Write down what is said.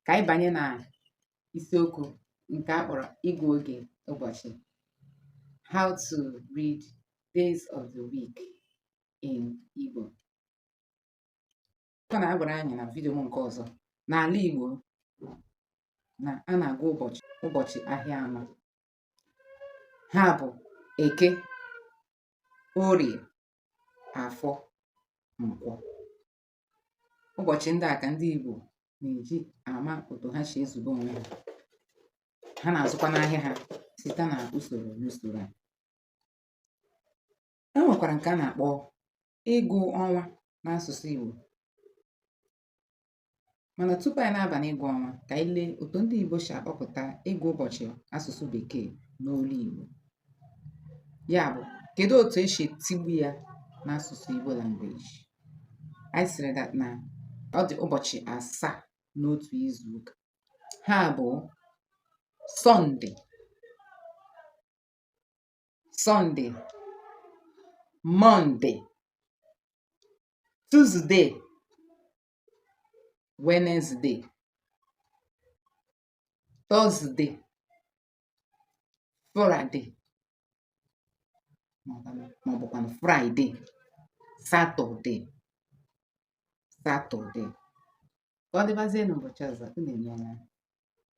ka anyị banye na isiokwu nke a kpọrọ ịgụ oge ụbọchị how to read days of the week in Igbo a na-agwara anyị na vidiyo m nke ọzọ n'ala Igbo na a na-agụ ụbọchị ahịa anọ ha bụ eke orie afọ nkwọ ụbọchị ndị a ka ndị Igbo na-eji ama otu ha si ezube onwe ha ha na-azụkwa n'ahịa ha site na usoro n'usoro a e nwekwara nke a na-akpọ ịgụ ọnwa n'asụsụ Igbo Mana tupu anyị na-aba n'ịgụ ọnwa, ka anyị lee otu ndị Igbo si akpọpụta ịgụ ụbọchị asụsụ Bekee n'olu Igbo. Ya bụ, kedu otu e si etigbu ya n'asụsụ Igbo language? Anyị sịrị that na ọ dị ụbọchị asaa n'otu izu ụka. Ha bụ Sọnde, Sọnde, Mọnde, Tuzde, Wednesday Thursday Friday maọbụkwanụ Fraịde Satọde Satọde ka ọ dịbazie n'ụbọchị ọzọ unu emeela